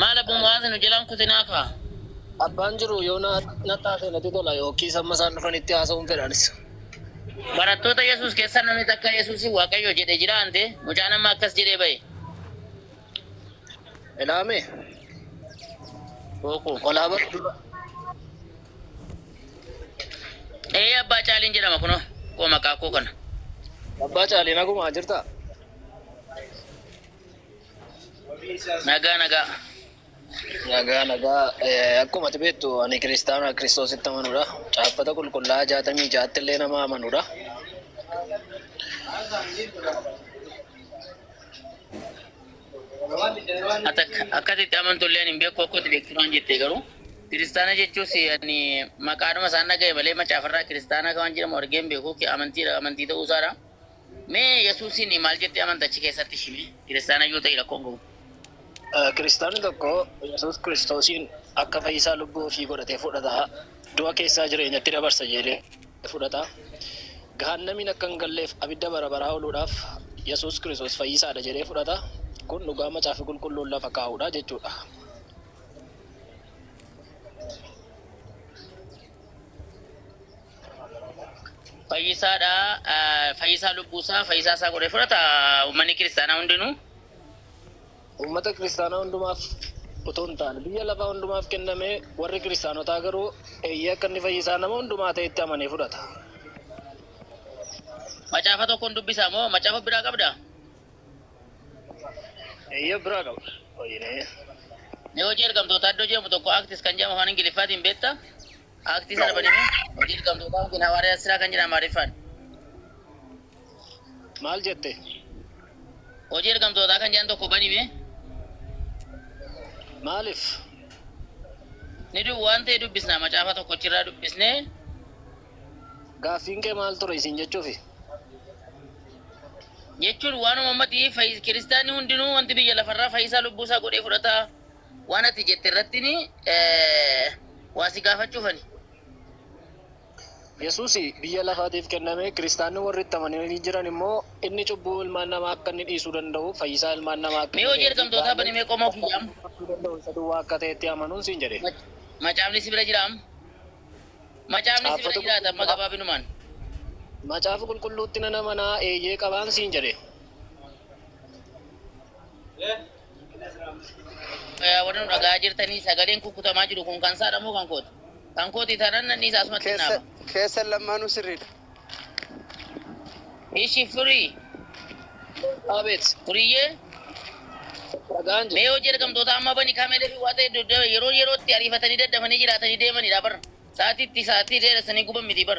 Maal Abu Mu'aaz nu jalaan kutinaa kaa. Abbaan jiru yoo natti haasa'e natti tola yookiis amma isaan dhufanitti haasa'uun fedha anis. Barattoota Yesuus keessaa namni takka Yesuusiin Waaqayyo jedhe jiraa ante? Mucaan amma akkas jedhee bahe. Ilaame Bookuu. olaa bara dura. Ee abbaa caaliin jedhama kunoo koo maqaa koo kana. Abbaa caalee nagumaa jirtaa? Nagaa nagaa. Nagaa nagaa Eh, akkuma ati beektu ani kiristaana kiristoositti amanudha. Caaffata qulqullaa'aa jaatamii ja'atti illee nama amanudha. Ati akka- akkasitti amantu illee hin beeku akkatti beektu waan jette garuu. Kiristaana jechuus ani maqaadhuma isaan dhaga'e malee macaafarraa kiristaanaa kan waan jedhamu argee hin beeku. Amantiidha amantii ta'uu isaadha. Mee Yesuusiin maal jettee amanta achi keessatti ishii mee? Kiristaana yoo ta'e rakkoon qabu. Kiristaanni tokko Yesuus Kiristoosiin akka fayyisaa lubbuu ofii godhatee fudhata. Du'a keessaa jireenyatti dabarsa jedhee fudhata. Gahaannamiin akka hin galleef abidda bara baraa ooluudhaaf Yesuus Kiristoos fayyisaadha jedhee fudhata. Kun dhugaa Macaafi Qulqulluun lafa kaa'uudha jechuudha. Fayyisaa dha. Fayyisaa lubbuu isaa fayyisaa isaa godhee fudhata uummanni kiristaanaa hundinuu. Uummata kiristaanaa hundumaaf utuu hin taane biyya lafaa hundumaaf kennamee warri kiristaanotaa garuu eeyyee akka inni fayyisaa nama hundumaa ta'etti amanee fudhata. Macaafa tokkoon dubbisaa moo macaafa biraa qabdaa? Eeyyee of biraa qaba. Hojiinee. Mee hojii ergamtootaa iddoo jedhamu tokko Acts kan jedhamu afaan Ingiliffaatiin beektaa? Aaktii sana banime hojii dirqamtootaa yookiin hawaariyaa siraa kan jedha Amaariffaan. Maal jette? Hojii ergamtootaa kan jedhan tokko banime Maaliif? ni du waan ta'e dubbisna macaafa tokkochirraa dubbisnee Gaaffiin kee maal ture isin jechuufi? jechuun waanuma ammati fayyi- kiristaanni hundinuu wanti biyya lafarraa fayyisaa lubbuusaa godhee fudhata. waan ati jette irrattini waa si gaafachuufani. Yesuusi biyya lafaatiif kenname, Kiristaanni warri itti amananii jiran immoo inni cubbuu ilmaan namaa akka inni dhiisuu danda'u, fayyisaa ilmaan namaa akka Mee inni hojii ta'ee fi ergamtootaa bani mee qomoo kiyya amma. gochuu danda'u isa duwwaa akka ta'etti amanuun siin jedhe. Mac- Macaafni si bira jira amma. Macaafni si bira Caaffata jiraata amma qulqulluu gabaabinumaan. Macaafa qulqulluutti nan amanaa eeyyee qabaan siin jedhe. Warri nu dhaga'aa jirtanii sagaleen kukkutamaa jiru kun kan saadha moo kan kooti? Kan kooti tanan nan dhiisa asumatti Keessa naama. keessan lammaanuu sirriidha. Ishi firii Abeet. firiyyee Dhagaan mee jira. hojii ergamtoota amma bani kameelee fi waata hedduu dha- yeroo yerootti ariifatanii daddafanii jiraatanii deemanidha bar. Sa'aatiitti sa'aatii dheeressanii guban miti bar.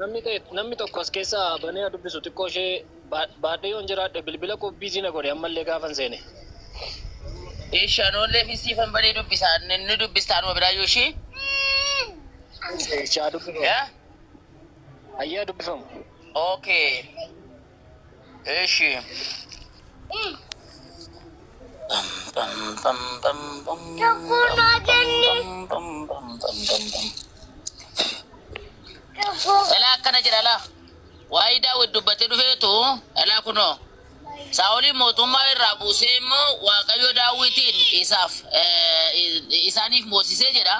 Namni ta'e namni tokko as keessa banee haa dubbisu xiqqoo ishee ba- baadhee yoon jiraadhe bilbila koo biizii na godhe ammallee gaafan seene. Ishi anoollee fi siifan banee dubbisa ni ni dubbista anuma biraayyuu ishii. Ishee haa dubbifamu. Yaa? Ayyee haa dubbifamu. Okay. Eshi. Elaa akkana jedha laa. Waa'ee daawwit dubbatee dhufeetu elaa kunoo. Saa'oliin mootummaa irraa buusee immoo Waaqayyo daawwitiin isaaf eh, isaaniif moosisee jedha.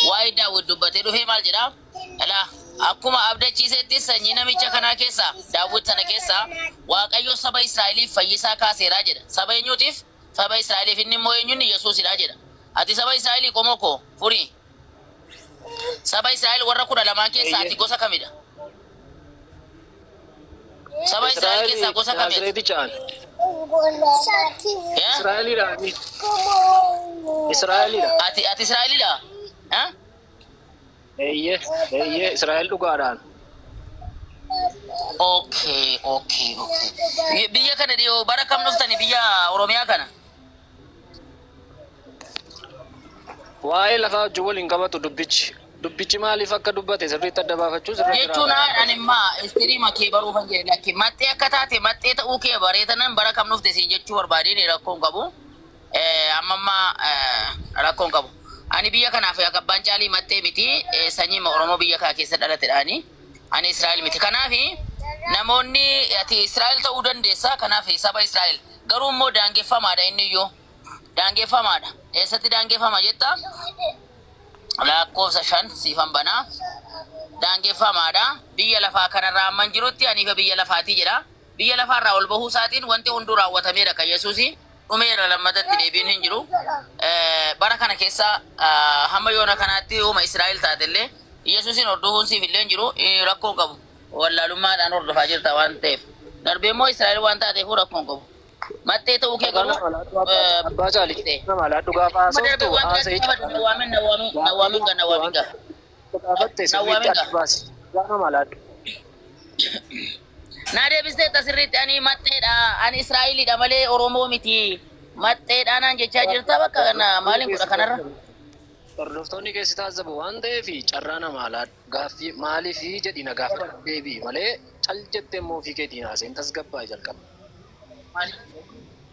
Waa'ee daawwit dubbatee dhufee maal jedha? Ela akkuma abdachiisettis sanyii namicha kanaa keessaa, Daawwit sana keessaa, Waaqayyo saba Israa'eliif fayyisaa kaaseera jedha. Saba eenyuutiif? Saba Israa'eliif. Inni immoo eenyu? Inni Yesuusi dha jedha. Ati saba Israa'elii qomoo koo? Furii. Saba Israa'el warra kudha lamaan keessaa ati Eeyyee. gosa kami dha? Saba Israa'el keessaa Israa'elii gosa kami ati? Naazireeti caan. Eh? Israa'eliidha. Israa'eliidha. Ati, ati Israa'elii dha? Eh? Eeyyee, eeyyee, Israa'el dhugaadhaan. Okay, okay, okay. Bi- Biyya kana dhiyoo bara kam dhuftani biyya Oromiyaa kana? Waa'ee lafaa wajjin wal hin qabatu dubbichi. Dubbichi maaliif akka dubbate sirriitti adda baafachuu sirra jira. Jechuun ani immaa istirii makee baruu kan jedhe lakki maxxee akka taate maxxee ta'uu kee bareetanan bara kam dhufte siin jechuu barbaadeen rakkoon qabu. Eh, amma amma eh, rakkoo hin qabu. Ani biyya kanaaf yaa qabbaan caalii maxxee miti eh, sanyiima Oromoo biyya kaa keessa dhalatedhaani. Ani Israa'el miti. Kanaaf namoonni ati Israa'el ta'uu dandeessa. Kanaaf saba Israa'el garuu immoo daangeffamaadha inni iyyuu. Daangeffamaadha. Eessatti daangeffama jetta? Lakkoofsa shan siifan banaa. daangeffamaadha. Biyya lafaa kanarraa amman jirutti aniifa biyya lafaatii jedha. Biyya lafaarraa ol bahuu isaatiin wanti hunduu raawwatameera kan Yesuusi. dhumeera lammata itti deebiin hin jiru. Bara kana keessa hamma yoona kanaatti uuma Israa'el taate illee Yesuusin hordofuun siif illee hin jiru rakkoon qabu. Wallaalummaadhaan hordofaa jirta waan ta'eef. Darbee immoo Israa'el waan taateef rakkoon qabu. Maxxee ta'uu kee garuu abbaa caalii nama alaadhu gaafa haasoftu haasa jechuudha. Nawaamin nawaamin nawaamin nawaamin Gaafatte sirriitti adda baasi. Gaama malaadhu. Naa deebisteetta sirriitti ani maxxeedha ani Israa'eliidha malee Oromoo miti maxxeedha naan jechaa jirta bakka kana maaliin godha kanarra. Hordoftoonni keessi taazzabu waan ta'eef carraa namaa laadhu. Gaaffii maaliif jedhi na gaafadhu deebi'i malee cal jettee immoo ofii keetiin haasa'in tasgabbaa'i jalqaba.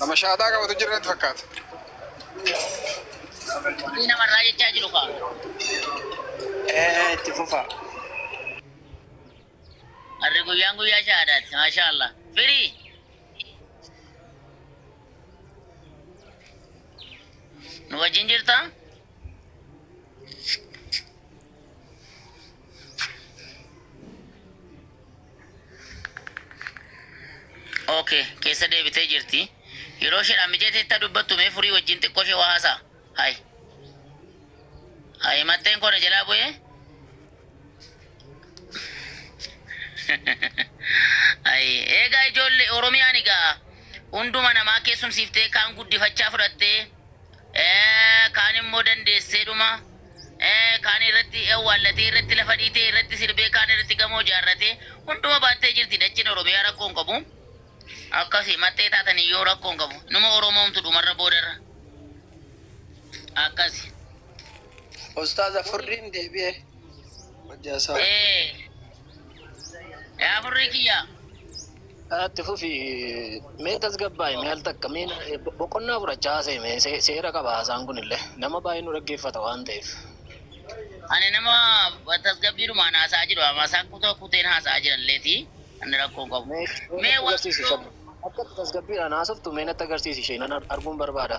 Nama shaaxaa qabatu jira natti fakkaata. Dubbii namarraa jechaa jiru kaa. Ee itti fufa. Harri guyyaan guyyaa shahaadaati. Maashaa Allah. Firii. Nu wajjin jirtaa? Okay, keessa deebitee jirti. Yeroo isheedhaan mijeeteetta dubbattu mee furii wajjin xiqqoo ishee waa haasaa. Hai. Hai matteen koo na jalaa bu'ee. Hai. Eegaa ijoollee Oromiyaan egaa hunduma namaa keessumsiiftee kaan guddifachaa fudhattee ee, kaan immoo dandeesseedhuma. Kaan irratti awwaallatee, irratti lafa dhiitee, irratti sirbee, kaan irratti gamoo ijaarratee, hunduma baattee jirti dacheen Oromiyaa rakkoo hin qabu. Akkasi maxxee taatanii yoo rakkoo hin qabu. Numa Oromoomtu dhumarra boodarra. Akkasi. Ustaaza furriin deebi'e hojjaa isaa. Ee. Yaa furrii kiyya. Itti fufi mee tasgabbaa'i mee al takka mee boqonnaa fudhachaa haasa'e mee se- seera qaba haasaan kun illee nama baay'ee nu dhaggeeffata waan ta'eef. Ani nama tasgabbiidhumaan haasa'aa jiru amma isaan kutoo kuteen haasa'aa jiran illeeti ani rakkoo hin qabu. Mee mee Mee natti agarsiisi waaqayyoo ishee akka itti tasgabbiidhaan haasoftu mee natti agarsiisi ishee nan ar- arguun barbaada.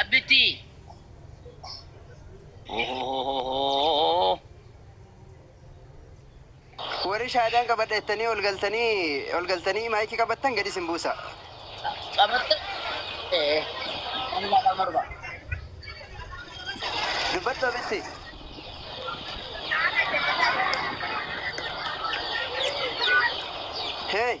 Abbitti. Ohohohohoo. Warri shaadaan qabadha jettanii ol galtanii ol galtanii maayikii qabattan gadi isin buusa. Qabatte. Ee. Ani lafa morba. Dubbadhu abitti. Hey.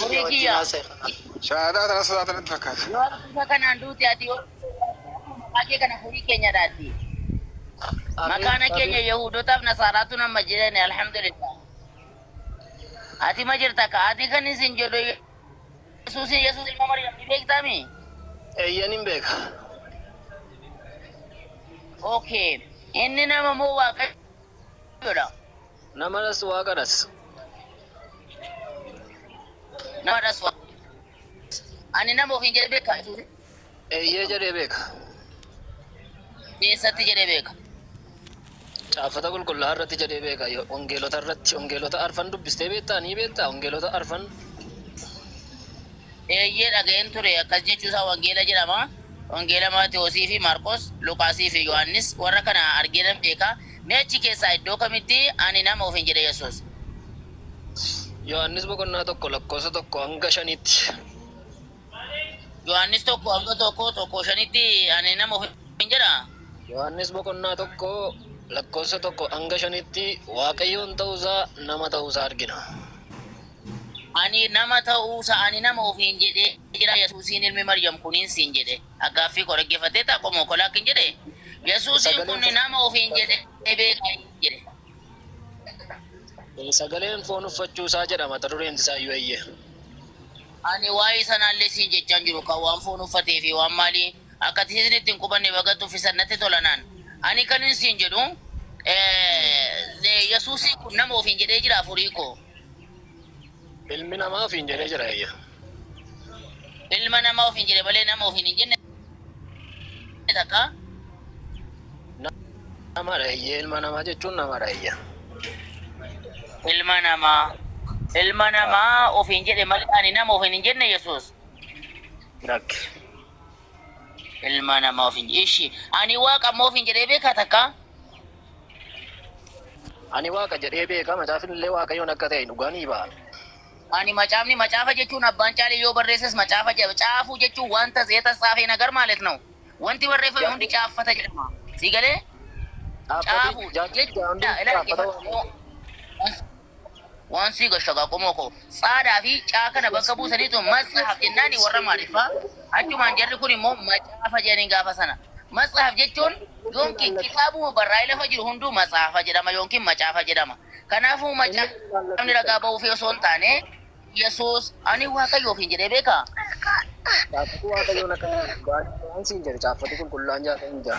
Horii kiyyaa. Shahaadaa tana sodaatan natti fakkaata. Yoo harkuusa kanaan duute ati yoo maqaa kee kana horii keenya dhaatti. Makaana keenya Yahuudotaaf Nasaaraatu nama jedhani alhamdulillah. Ati ma jirta ka ati kan isin jedhu Yesuus Yesuus ilma Maryam ni beektami? Eeyyan hin beeka. Okay. Inni nama moo waaqayyoodha? Namadhas Waaqadhas. Namadhas Waaqadhas. Ani nama ofiin jedhee beekaa Yesuusi? Eeyyee jedhee beeka. Eessatti jedhee beeka? Caaffata qulqullaa'aa irratti jedhee beeka. Yo- Wangeelota irratti wangeelota arfan dubbistee beektaa ni beektaa wangeelota arfan Eeyyee dhaga'een ture akkas jechuusaa wangeela jedhama. Wangeela Maatewosii fi Maarqos, Luqaasii fi Yohaannis warra kana argee nan beeka. Mee achi keessaa iddoo kamitti ani nama ofiin jedhe Yesuus? Yohaannis boqonnaa 1 lakkoofsa 1-5tti. Yohaannis 1-1, 1-5tti ani nama ofiin jedha? Yohaannis boqonnaa 1 lakkoofsa 1-5tti Waaqayyoon ta'uusaa, nama ta'uusaa argina. Ani nama ta'uusa, ani nama ofiin jedhee jira Yesuusiin ilmi Maryam kuniin siin jedhe. A Gaaffii koo dhaggeeffatteettaa qomoo koo? Laakkiin jedhe. Yesuusiin kun Sagaleen nama ofiin jedhee beekaa hin jedhe. Eh, Sagaleen foon uffachuu isaa jedha mata dureen isaa iyyuu eeyyee. Ani waa'ee sanaallee siin jechaa hin jiru kan waan foon uffatee fi waan maalii akka ati isinitti hin qubanne baga tuffisan natti tola naan. Ani kan hin siin jedhu eh, Yesuusiin kun nama ofiin jedhee jira afurii koo. Ilmi namaa ofiin jedhee jira eeyya. Ilma namaa ofiin jedhe malee nama ofiin hin jenne takka. Namadha eeyyee ilma namaa jechuun namadha eeyya. Ilma namaa. Ilma namaa ofiin jedhe malee ani nama ofiin hin jenne Yesuus. Lakki. Ilma namaa ofiin jedhe. Ishi ani waaqa immoo ofiin jedhee beekaa takka. Ani Waaqa jedhee beeka, Macaafinillee Waaqayyoon akka ta'e dhugaa ni ba'a. Ani Macaafni, Macaafa jechuun abbaan caalee yoo barreesses Macaafa jedha. Caafuu jechuun wanta yetatsaafe nagar maalet naw. Wanti barreeffame hundi caaffata jedhama. Sii galee? Caaffati, Caafuu, caaffati jechuun, caaffata waan. ilaali, dhaggeeffadhu. Waan sii gashu akaa qomoo koo. Tsaada fi C kana bakka buusaniitu matsahaf jennaani warra maariffaa achumaan jarri kun immoo macaafa jedhaniin gaafa sana. Matsahaf jechuun yoonkin kitaabuma barraa'ee lafa jiru hunduu matsaafa jedhama yoonkin macaafa jedhama. Kanaafuu macaafni ragaa ba'uufii osoo hin taane Yesuus ani Waaqayyo ofiin jedhee beekaa? Caaffati Waaqayyoon akka ta'e dhugaa dha. Waan siin jedhu caaffati qulqullaa'aan 66.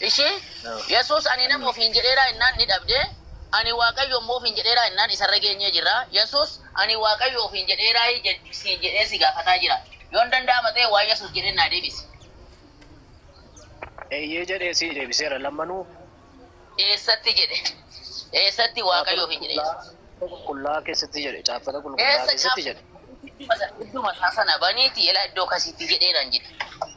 Ishiin, Yesuus ani nama ofiin jedheeraa ennaan ni dhabde, ani Waaqayyo immoo ofiin jedheeraa ennaan isarra geenyee jirra. Yesuus, ani Waaqayyo ofiin jedheeraayi jedh siin jedhee si gaafataa jira. Yoon danda'ama ta'e waan Yesuus jedheen naa deebisi. Eeyyee jedhee sii deebiseera lammanuu. Eessatti jedhe? Eessatti Waaqayyo ofiin jedhe Yesuus? Caaffata qulqullaa'aa keessatti jedhe. Caaffata qulqullaa'aa Eessa keessatti jedhe. caaffata? Idduma isaa sana baniiti elaa iddoo kasiitti jedhee naan jedhe.